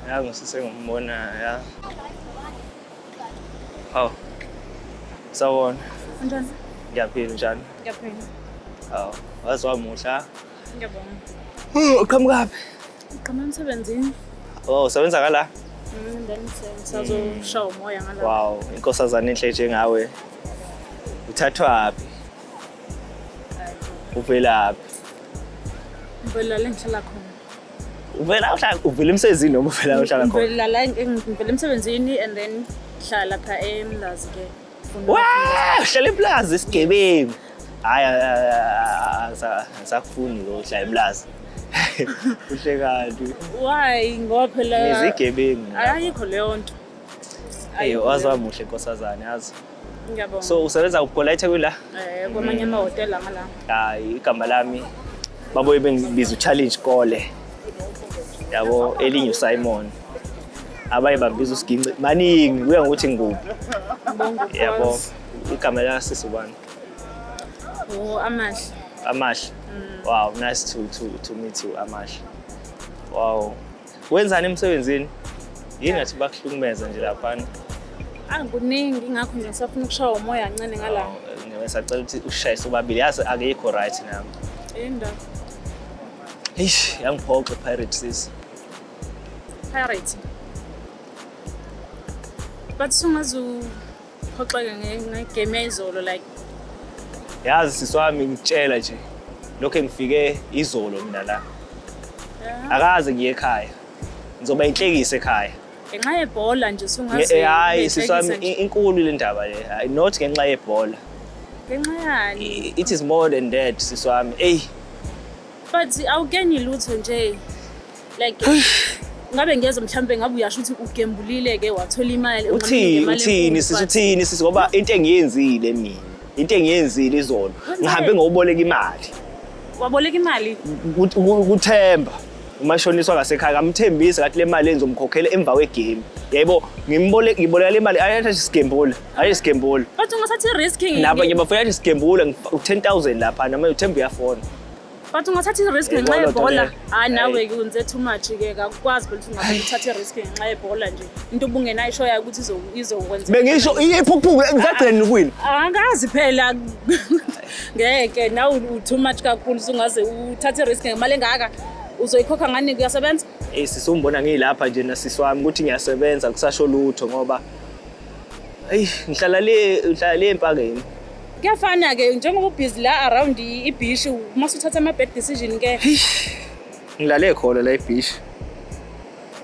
Yazi ngisisengumona ya. Hawu. Sawona. Njani? Ngiyaphila njani? Ngiyaphila. Hawu, waze wamuhla. Ngiyabonga. Hmm, uqhamukaphi? Uqhamuka emsebenzini. Oh, usebenza kala? Mm, then sazoshaya umoya ngala. Wow, inkosazana enhle njengawe. Uthathwaphi? uvelaphi ngivela la ngihlala khona uvela uhlala uvela emsebenzini noma uvela uhlala khona ngivela la ngivela emsebenzini and then ngihlala pha emlazi ke uhlala emlazi isigebengu hayi asakufuni lo uhlala emlazi kuhle kanti why ngoba phela izigebengu ayikho leyo nto Hey, waze wamuhle nkosazane yazi. Ngiyabonga. So usebenza kuphi la eThekwini la? Eh kwamanye amahhotela ngala. Hayi igama lami babuye bengibiza uChallenge Kole. Yabo elinye uSimon. Abaye bambiza uSiginci maningi kuya ngokuthi ngikuphi. Yabo igama la sisi ubani? Oh Amahle. Amahle. Mm. Wow, nice to to to meet you Amahle. Wow. Wenzani emsebenzini? Yini ngathi bakuhlukumeza nje laphana? Angikuningi ngakho nje ngisafuna ukushaya umoya kancane ngala. Ngisacela ukuthi ushayise ubabili yazi akekho right nami. Indaba. Eish, yangiphoxa Pirate sis. Pirate. Bathi sungazu Phoxeke ngegame yayizolo like. Yazi sisi wami ngitshela nje lokho engifike izolo mina la. Akaze ngiye ekhaya. Ngizoba inhlekise ekhaya. Ngenxa yebhola nje usungazi. Eh, hayi sisi wami inkulu le ndaba le. Hayi not ngenxa yebhola. Ngenxa yani. It is more than that sisi wami. Ey. But awukeni lutho nje. like ngabe ngiyazi mhlawumbe ngabe uyasho ukuthi ugembulile ke wathola imali uthini uthini sisi uthini sisi ngoba into engiyenzile mina into engiyenzile izona ngihambe ngokuboleka imali waboleka imali kuthemba umashoniswa ngasekhaya kamthembisi kathi le mali enzomkhokhela emva kwegame yebo ngimboleka ngiboleka le mali ayathi isigembula hayi isigembula bathi ungasathi risk nabo ngibafoyathi isigembula u-10000 lapha nama uthemba uyafona but ungathatha i-risk eh, ngenxa yebhola hayi nawe ke wenze too much ke kakukwazi ukuthi ungathatha i-risk ngenxa yebhola nje into ubungenayo isho yayo ukuthi izokwenza bengisho iphukuphuku ngisagcina ukwini angazi phela ngeke nawe u-too much kakhulu sungaze uthathe i-risk ngemali engaka uzoyikhokha ngani kuyasebenza eyi sisi umbona ngiyilapha nje nasisi wami ukuthi ngiyasebenza kusasho lutho ngoba eyi ngihlala le ngihlala le empakeni Kuyafana-ke njengoba ubhizi la around ibhishi uma suthatha ama-bad decision-ke. Ngilale khona la ibhishi.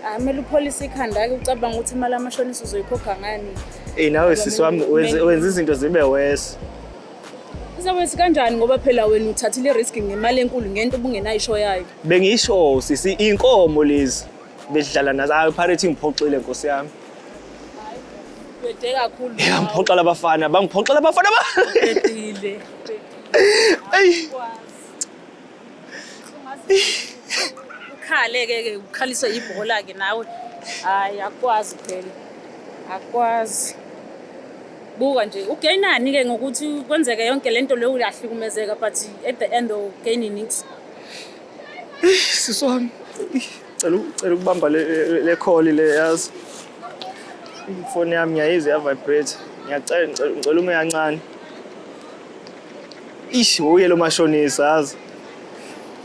Hayi kumele upholise ikhanda-ke ucabanga ukuthi imali amashonisa uzoyikhokha ngani. Eyi nawe sisi wami wenza izinto zibe wesi. Uzawezi kanjani ngoba phela wena uthathile i-risk ngemali enkulu ngento ubungenayisho yayo. Bengisho sisi inkomo lezi bedlala nazo. Hayi iPirates ingiphoxile nkosi yami. Bede kakhulu. Yeah, ngiphoxa labafana, bangiphoxa labafana. Bedile. Ey. Ukhale ke ke ukhaliswe ibhola ke nawe. Hayi akwazi phela. Akwazi. Buka nje ugainani ke ngokuthi kwenzeke yonke lento leyo uyahlukumezeka but at the end of gaining it. Siswami. Cela cela ukubamba le le call le yazi. Ifoni yami ngiyayizwa ya vibrate. Ngiyacela ngicela ngicela ume kancane. Ish uye lo mashonisa yazi.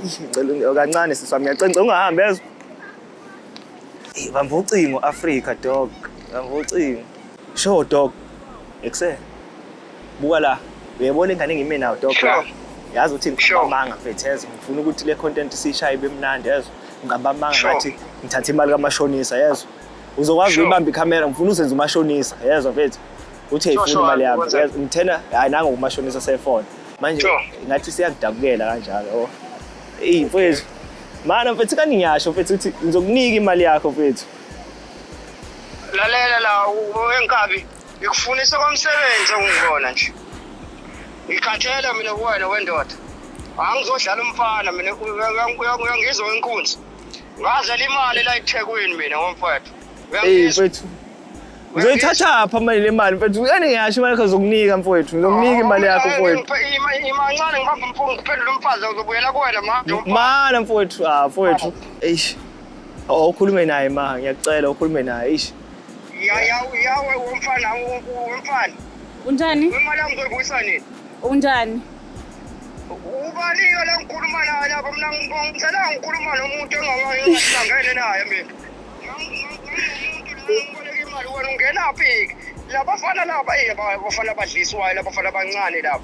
Ish ngicela unge- kancane sisi wami ngiyacela ngicela ungahambi yazi. Eh, Bamba ucingo Africa dog. Bamba ucingo. Sure dog. Ekuseni. buka la uyayibona ingane engime nayo dog Sure. yazi ukuthi Sure. ngiqamba amanga mfethu yezwa ngifuna ukuthi le content siyishaye ibe mnandi yezwa ngiqamba amanga Sure. ngathi ngithathe imali kamashonisa yezwa uzokwazi Sure. ukuyibamba ikhamera ngifuna uzenze umashonisa yezwa mfethu uthi Sure, ayifuni sure, imali yami ngikwenze. Yezwa, ngithena hayi nango kumashonisa sefone manje Sure. ngathi siyakudabukela kanjalo oh. eyi mfethu mana mfethu kani ngiyasho mfethu ukuthi ngizokunika imali yakho mfethu lalela la u- u- enkabi ngikufunisa komsebenzi ongikona nje ngikhathele mina kuwena wendoda angizodlala umfana mina uyangizwa wenkunzi ngazela imali la ethekwini mina ngomfowethu mfethu uzoyithathaphi amali le mali mfethu yani ngiyasho imali yakho zokunika mfowethu ngizokunika imali yakho oh, mfowethu imancane ngibamba umfungo ngiphendula umfazi uzobuyela kuwena manje mana mfowethu ah mfowethu eish oh, ukhulume naye ma ngiyakucela ukhulume naye eish yawe yawe womfana womfana unjani imali yami uzoyibuyisa nini unjani ubaniyo lengikhuluma naye lapho mina ngithela ngikhuluma nomuntu engahlangene naye mina ungena phi labafana laba bafana badliswayo labafana abancane laba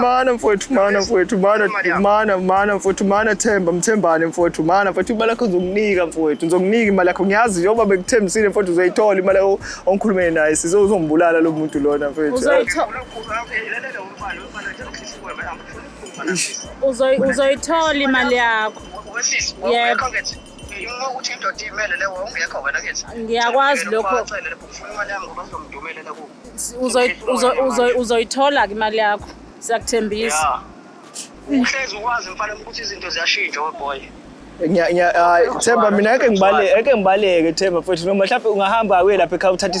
mana mfowethu mana mfowethu mana mana mana mfowethu mana themba mthembane mfowethu mana mfowethu imali yakho ngizokunika mfowethu ngizokunika imali yakho ngiyazi njengoba bekuthembisile mfowethu uzoyithola imali yakho ongikhulumele naye size uzombulala lo muntu lona mfowethu uzoyithola imali yakho yebo ukuthi indoda imele le wawungekho wena kithi ngiyakwazi lokho uzoyithola-ke imali yakho siyakuthembisa uhlezi ukwazi mfana ukuthi izinto ziyashintsha weboy themba mina eke ngibaleke eke ngibaleke themba futhi noma mhlawumbe ungahamba uye lapha ekhaya uthathe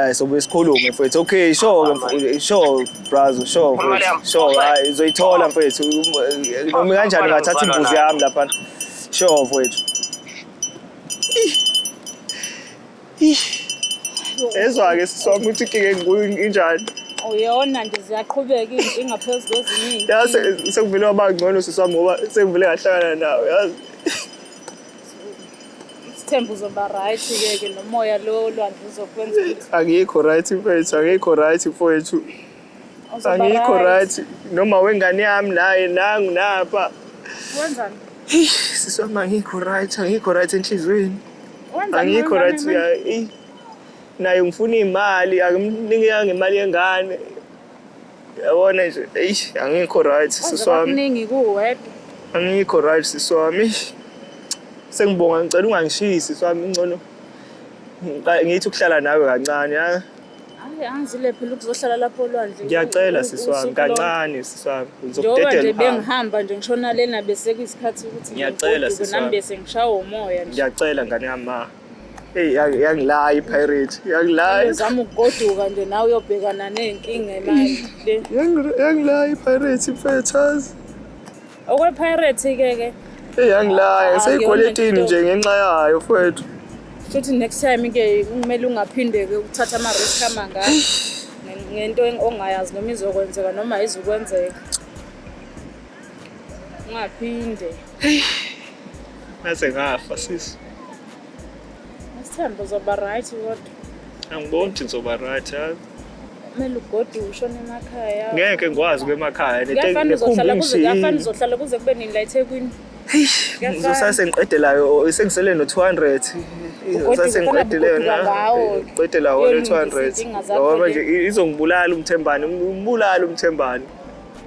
Eh sobuye sikhulume mfethu. Okay, sure mfethu. Sure brazo, sure mfethu. Sure, hayi uzoyithola mfethu. Noma kanjani ngathatha imbuzi yami lapha. Sure mfethu. Ezwa-ke sisi wami ukuthi inkinga engikuyo injani. Uyona nje ziyaqhubeka izinkinga phezu kweziningi. Yazi sekuvele waba ngcono sisi wami ngoba sekuvele ngahlangana nawe yazi. Sithemba uzoba right ke ke nomoya lo olwandle uzokwenza ukuthi angikho right mfethu angikho right mfethu uzoba angikho right noma wengane yami naye nangu napha wenzani sisi wami angikho right angikho right enhliziyweni wenzani angikho wenzani, right wenzani? ya eh, naye ngifuna imali akumnikanga imali yengane Yabona nje, eish angikho right sisi wami. Kuningi kuwedwa. Angikho right sisi wami. eish. Sengibonga ngicela ungangishiyi sisi wami ngcono. ngiqa- Ngithi ukuhlala nawe kancane ha. Hayi angizile phela ukuzohlala lapho olwandle. Ngiyacela u- sisi wami usuku lonke. kancane sisi wami. Njengoba nje Ngizokudedela uhambe. bengihamba nje ngishona lena bese kuyisikhathi ukuthi Ngiyacela, ngigoduke sisi nami wami. bese ngishawa umoya nje. Ngiyacela ngane yami ma. Hey yangilaya iPirate. Yangilaya. Uzama ukugoduka nje nawe uyobhekana nezinkinga imali le. Yangilaya iPirate mfethazi. Okwe Pirate ke ke. Hey yangilaya ah, seyigweletini nje ngenxa yayo mfethu. Futhi next time ke kumele ungaphinde ke ukuthatha ama risk amanga ngento ongayazi noma izokwenzeka noma izukwenzeka. Ungaphinde. Ngaze ngafa sisi. Sithemba uzoba right kodwa. Angiboni ukuthi ngizoba right hayi. Kumele ugodi ushone emakhaya. Ngeke ngikwazi ukuya emakhaya. Kuyafanele uzohlala kuze kuyafanele uzohlala kuze kube nini la eThekwini. Ngizosase ngiqedelayo sengisele no 200. Ngizosase ngiqedeleyo na. Qedela wona 200. Ngoba nje izongibulala umthembani, umbulala umthembani.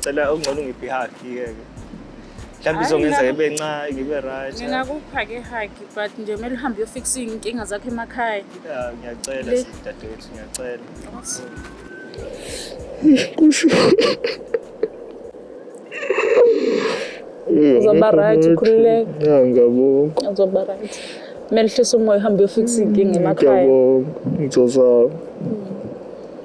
Cela ungcono ngiphi haki ke ke. Mhlawumbe Hayi, izongenza nami- ngibe ncane ngibe right. ngingakupha ke haki but nje kumele uhambe uyofikisa iy'nkinga zakho emakhaya Yeah, ngiyacela Le- dadewethu ngiyacela. uzoba right ukhululeke Ya ngiyabonga. uzoba right kumele uhlise umoya uhambe uyofikisa iy'nkinga emakhaya Ngiyabonga. Ngizozama.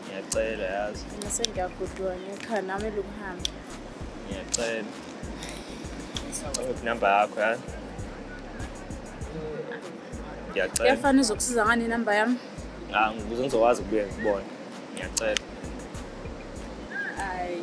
ngiyacela yazi mina sengiyagoduka ngekhaya nami elokuhamba ngiyacela inamba yakho yazi ngiyacela kuyafana uzokusiza ngani inamba yami ah ngikuze ngizokwazi ukubuya ngikubona ngiyacela hayi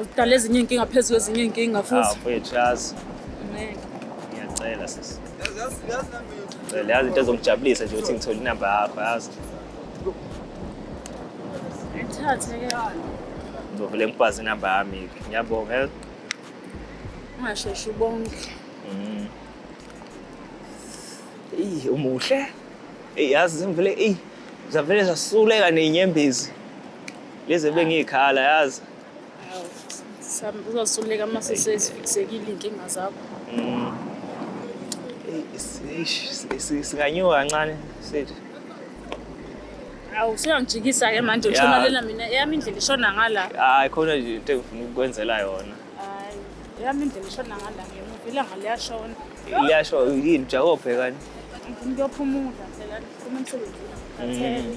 Udala ezinye iy'nkinga phezu kwezinye iy'nkinga Ah, futhi. mfowethu yazi Ngeke. ngiyacela sisi Ngicela, yazi into ezongijabulisa nje ukuthi ngithole inamba yakho yazi Ngithathe ke. ngizovele ngikwazi inamba yami ngiyabonga eh? Ungasheshi ubonke. Mm. Eyi, umuhle eyi yazi zimvele eyi zavele zasuleka ney'nyembezi Lezi bengiyikhala yazi. Uzosuleka uma sesezifiksekile iy'nkinga zakho. Mm. Singanyuka kancane sithi. Awu usuyangijikisa-ke manje ushonalela mina eyami indlela ishona ngala. Hayi khona nje into engifuna ukukwenzela yona. Hayi eyami indlela ishona ngala ngemuva ilanga liyashona. Liyashona yini ujahe obhekani? Ngifuna ukuyophumula phela ngiphuma emsebenzini. Mm.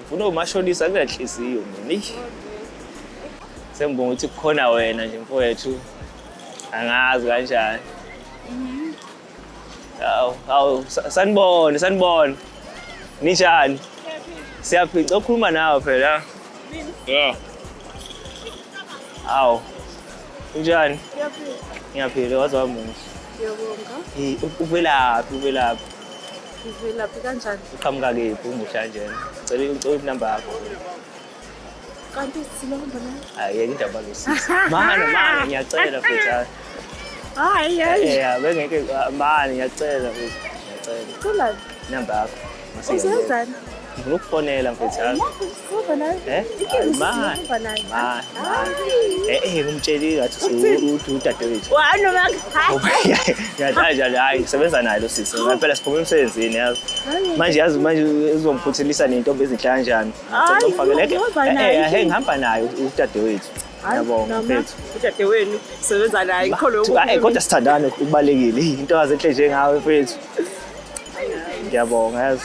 ngifuna umashonisa kunenhliziyo mina sengibonga ukuthi kukhona wena nje mfowethu angazi kanjani mhm. awu awu sanibone sanibone ninjani siyaphica okhuluma nawe phela yeah awu unjani ngiyaphila waze wamuhle uvelaphi uvelaphi Ngivelaphi kanjani? Uqhamuka kephi umuhla njena? Cela ucela inamba yakho. Kanti silomba na? Hayi yeke indaba losisi. Mane mane ngiyacela futhi. Hayi hayi. Eh, eh bengeke ah, mane ngiyacela futhi. Ngiyacela. Cela inamba yakho. Usenzani? Ngifuna ukufonela mfethu yami. Eh? Ma. Ma. Eh eh ngimtsheli ngathi uthi udadewethu. Wa noma hayi. Ngiyathanda nje hayi ngisebenza naye lo sisi. Ngempela siphuma emsebenzini yazi. Manje yazi manje uzomphuthelisa nentombi ezinhle kanjani. Ngizomfakela ke. Eh eh ngihamba naye udadewethu. Ngiyabonga mfethu. Udadewenu sebenza naye ngikholwe ukuthi. Hayi kodwa sithandane kubalekile. Into azenhle njengawe mfethu. Ngiyabonga yazi.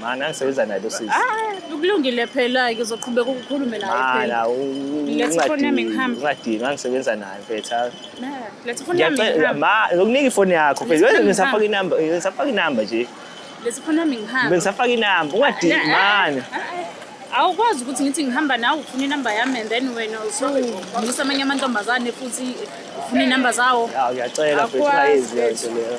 Mana ngisebenza naye losisi. Ah, ukulungile phela ke uzoqhubeka ukukhulume naye phela. Mana Let's phone yami ngihambe. Ungadinga ngisebenza naye mfethu. Nah, let's phone yami ngihambe. Ma, ngokunika ifoni yakho mfethu. Wena ngisafaka inamba, ngisafaka inamba nje. Let's phone yami ngihambe. Bengisafaka inamba, ungadingi ah, mana. Ah, ah, Awukwazi ukuthi ngithi ngihamba nawe ufuna inamba yami and then wena usuvusa amanye amantombazane futhi ufuna inamba zawo. Ya, ngiyacela mfethu, ayizwe nje leyo.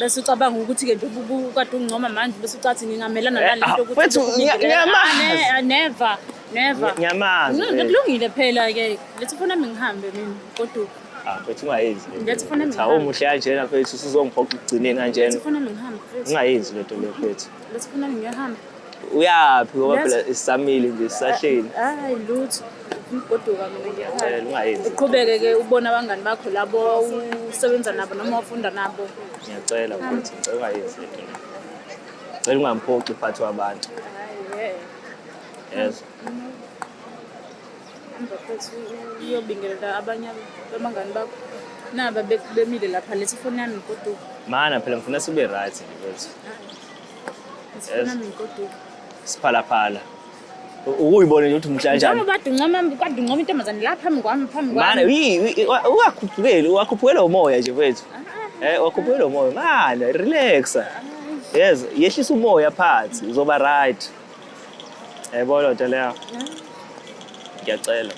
bese ucabanga ukuthi ke njengoba ukade ungcoma manje bese ucathi ngingamelana eh, nalento ah, ukuthi ah, never never ngiyamazi mm, eh. kulungile phela ke lethi fona ngihambe mina kodwa ah, mfethu ungayenzi cha umuhle kanjena mfethu usuzongiphoqa ukugcineni kanjena ungayenzi lento le mfethu uyaphi ngoba phela sisamile nje sisahleli hayi lutho umgoduka mina ngiyakhaya uqhubeke ke ubona abangani bakho labo usebenza nabo noma ufunda nabo ngiyacela ukuthi ngicela ungayenzi le nto cela ungamphoxi uphathi wabantu yes uyobingelela abanye abangani bakho naba bemile lapha lethi ifoni yami mgoduka mana phela ngifuna sibe right nje kwethu Sifuna mikoduka. Siphalaphala. Ukuyibona nje ukuthi umhla kanjani. Njengoba badungcoma kwadungcoma intombazane la phambi kwami phambi kwami. Mana yi ungakhuphukeli wakhuphukela umoya nje mfethu. Ah. Eh wakhuphukela umoya. Mana relaxa. Yes, yehlisa umoya phansi uzoba right. Yayibona nto leyo. Ngiyacela.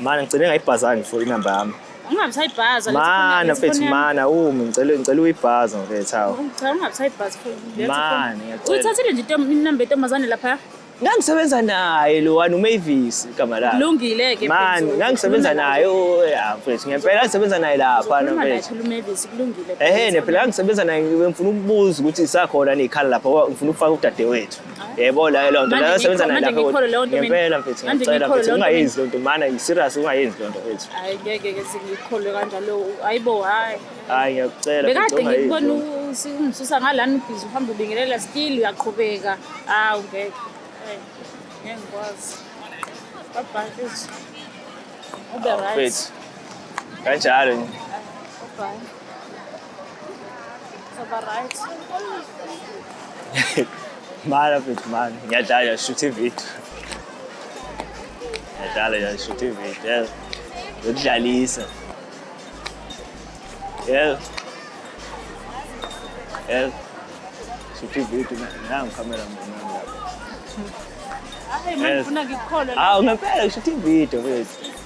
Mana ngicele ngayibhazani for inamba yami. Ungabe sayibhaza. Mana mfethu mana umi ngicela ngicela uyibhaza mfethu hawu. Ngicela ungabe sayibhaza for lethu. Mana ngiyacela. Uyithathile nje inamba yentombazane lapha. Ngangisebenza naye lo wani uMavis igama lakhe. Kulungile ke Man, ngangisebenza naye ya mfethu. Ngempela ngangisebenza naye lapha na mfethu. UMavis kulungile. Ehhe, phela ngangisebenza naye ngifuna ukubuza ukuthi isakhona nekhala lapha ngifuna ukufaka udadewethu. yebo leyo lonto Manje leyo ngikho- sebenza nayo manje lapho ngikhole leyo nto mina. ngempela mfethu Manje ngicela ngikhole mfethu leyo nto ungayenzi lonto mana serious ungayenzi lonto mfethu hayi ngeke ke sengikholwe kanjalo ayibo hayi hayi ngiyakucela mfethu, bekade ungayenzi ngikubona lonto. u- si- ungisusa ngalani ubhizi uhamba ubingelela still uyaqhubeka hawu ngeke Hayi, ngeke ngikwazi babhayi mfethu ube right mfethu kanjalo nje babhayi Right. Mara bit man, ngiyadlala shoot ivideo. Ngiyadlala ya shoot ivideo. Ngidlalisa. Yeah. Yeah. Shoot ivideo nangu camera mfana. Hayi mfuna ngikholwe. Ah, ungempela shoot ivideo mfethu.